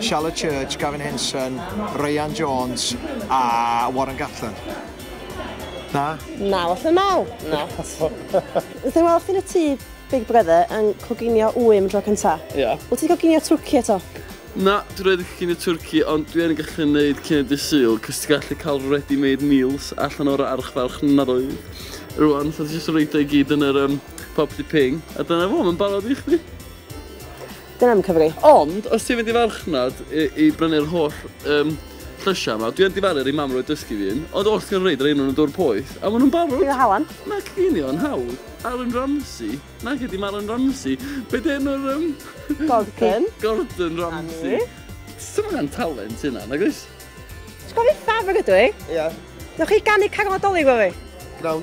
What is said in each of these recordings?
Charlotte Church, Gavin Henson, Ryan Jones a Warren Gatland. Na? Na, falle naw. Na. Wnaeth ei weld chdi yn y tŷ Big Brother yn coginio wym yn tro cynta. Ie. Yeah. Wyt ti'n coginio twrci eto? Na, dwi'n rhaid eich cynnig twrci, ond dwi yn gallu gwneud cynnig dy syl, cos ti'n gallu cael ready-made meals allan o'r archfarch nadoedd. Rwan, so ti jyst yn rhaid o'i gyd yn yr um, property ping, a dyna fo, mae'n barod i chdi. Dyna am Cymru. Ond, os ti'n mynd i farchnad i, i brynu'r holl um, llysiau yma, dwi'n difaru ar ei mam roed dysgu fi un, ond oll ti'n reid rein nhw'n y dwr poeth, a maen nhw'n barod. Dwi'n halan. Mae cynio yn hawdd. Aaron Ramsey. Na, gyda Aaron Ramsey. Be di enw'r... Um... Gordon. Gordon Ramsey. Sut mae'n talent hynna, nag oes? Ti'n gofio Fafr ydw i? Ie. Yeah. Newch chi ganu caron adolyg fo fi? Gnawn.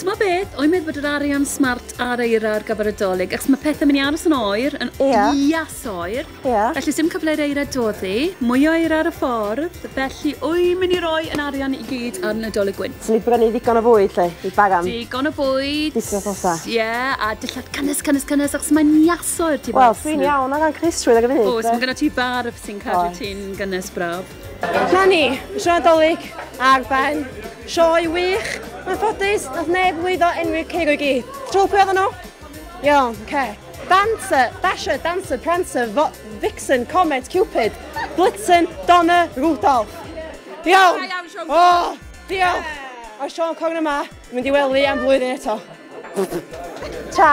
T'mo beth, o'i meddwl bod yr arian smart ar eira ar gyfer y dolyg, achos mae pethau'n mynd i aros yn oer, yn yeah. ias oer, yeah. felly sy'n cyfle i'r eira doddi, mwy o eira ar y ffordd, felly o'i mynd i roi yn arian i gyd ar y dolyg gwyn. Swn i wedi gwneud ddigon o fwyd, lle, i bagan. Digon o bwyd. Digon o fosa. Ie, yeah, a dillad cynnes, cynnes, cynnes, achos mae'n ias oer ti bas. Wel, dwi'n iawn o gan Chris trwy ddeg o funud. Oes, mae gyda ti bar sy'n cadw ti'n gynnes braf. Na ni, y sioe Nadolig ar ben. Sioe wych, mae'n ffodus, nath neb lwyddo enwi'r cig o'i gyd. Trwy pwy oedden nhw? Iawn, oce. Okay. Dancer, Dasher, Dancer, Prancer, Vo Vixen, Comet, Cupid, Blitzen, Donna, Rudolph. Iawn! O, oh, diolch! A Sean Corn yma, mynd i wely am flwyddyn eto. Ta!